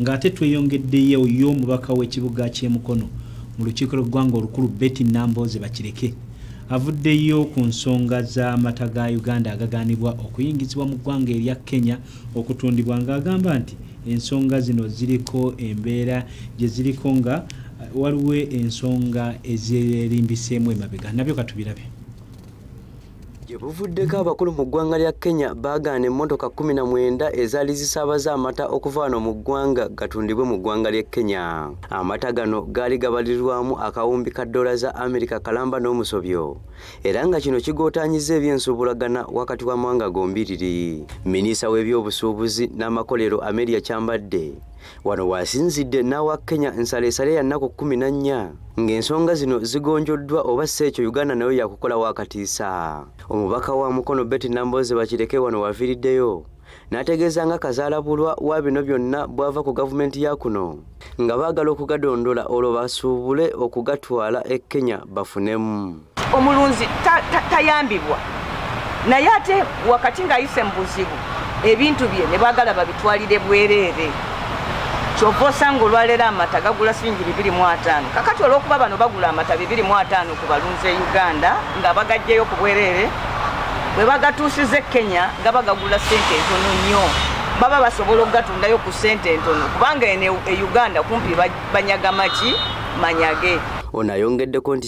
Nga ate tweyongeddeyo yo omubaka w'ekibuga ky'e Mukono mu lukiiko lw'eggwanga olukulu Betty Nambooze Bakireke avuddeyo ku nsonga z'amata ga Uganda agagaanibwa okuyingizibwa mu ggwanga erya Kenya okutundibwa ng'agamba nti ensonga zino ziriko embeera gye ziriko nga waliwo ensonga ezerimbiseemu emabega nabyo katubirabye. Gye buvuddeko abakulu mu ggwanga lya Kenya baagaana emmotoka kkumi na mwenda ezaali zisaabaza amata okuva wano mu ggwanga gatundibwe mu ggwanga ly'e Kenya. Amata gano gaali gabalirirwamu akawumbi ka ddoola za Amerika kalamba n'omusobyo era nga kino kigootaanyizza eby'ensuubulagana wakati w'amawanga gombiriri. Minisita w'ebyobusuubuzi n'amakolero Amelia Kyambadde Wano waasinzidde n'awa Kenya nsaleesale ya nnaku kkumi na nnya ng'ensonga zino zigonjoddwa oba si ekyo Uganda nayo yakukola wakatiisa. Omubaka wa Mukono Betty Nambooze Bakireke wano waviiriddeyo n'ategeeza nga kazaalabulwa wa bino byonna bw'ava ku gavumenti ya kuno nga baagala okugadondola olwo basuubule okugatwala e Kenya bafunemu. omulunzi tayambibwa naye ate wakati ng'ayise mu buzibu ebintu bye ne baagala babitwalire bwereere kyova osanga olwaleero amata gagula siringi bibiri mu ataano kakati olw'okuba bano bagula amata bibiri mu ataano ku balunzi e uganda nga bagajjeyo ku bwereere bwe bagatuusiza e kenya gaba gagula sente entono nnyo baba basobola okugatundayo ku sente entono kubanga eno e uganda kumpi banyagamaki manyage ono ayongeddeko nti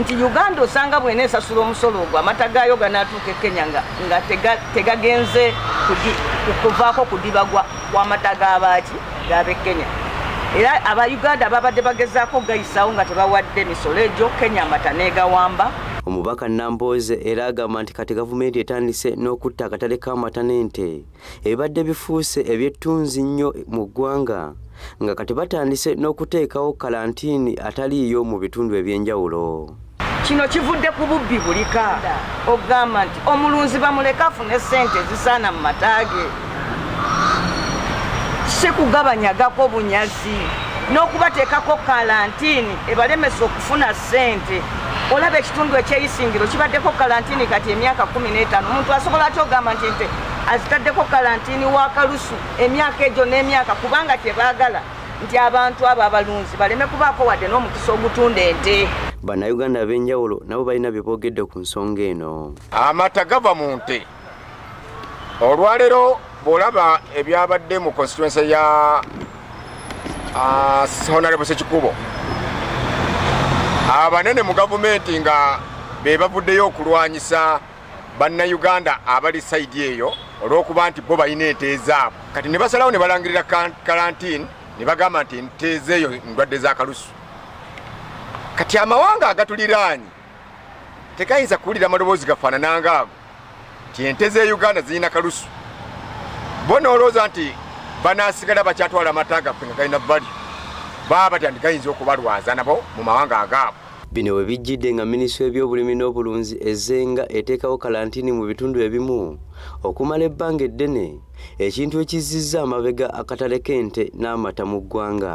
nti Uganda osanga bwena esasula omusolo ogwo amata gaayo ganaatuuka e Kenya nga, nga tegagenze tega kuvaako kudiba kw'amata g'abaaki g'ab'e Kenya era aba Uganda babadde bagezaako gayisaawo nga tebawadde misolo egyo Kenya amata n'egawamba Omubaka Nambooze era agamba nti kati gavumenti etandise n'okutta akatale k'amata n'ente ebibadde bifuuse ebyettunzi nnyo mu ggwanga nga kati batandise n'okuteekawo kalantiini ataliiyo mu bitundu eby'enjawulo kino kivudde ku bubbi bulika okugamba nti omulunzi bamuleka afune ssente ezisaana mu mataage si kugabanyagako bunyazi n'okubateekako kalantiini ebalemesa okufuna ssente olaba ekitundu ekyeyisingiro kibaddeko kalantiini kati emyaka kumi n'etaano omuntu asobola aty ogamba nti nte azitaddeko kalantini wa kalusu emyaka egyo n'emyaka kubanga tebaagala nti abantu abo abalunzi baleme kubaako wadde n'omukisa ogutunda ente bannayuganda ab'enjawulo nabo balina bye boogedde ku nsonga eno amata gava mu nte olwaleero bw'olaba ebyabadde mu constituense ya ah, honarebo sekikubo abanene mu gavumenti nga be bavuddeyo okulwanyisa bannayuganda abali sayidi eyo olw'okuba nti bo balina ente ezaabwe kati ne basalawo ne balangirira kalantiini ne bagamba nti ente ezeeyo ndwadde z'akalusu kati amawanga agatuliraanyi tegayinza kuwulira amaloboozi gafaanana ngaago nti ente z'e uganda zirina kalusu bo noolowooza nti banaasigala bakyatwala amata gaffe nga galina valyo baba batya nti gayinza okubalwaza nabo mu mawanga agaabwe Bino we bijjidde nga minisitule y'ebyobulimi n'obulunzi ezze nga eteekawo kalantini mu bitundu ebimu okumala ebbanga eddene ekintu ekizzizza amabega akatale k'ente n'amata mu ggwanga.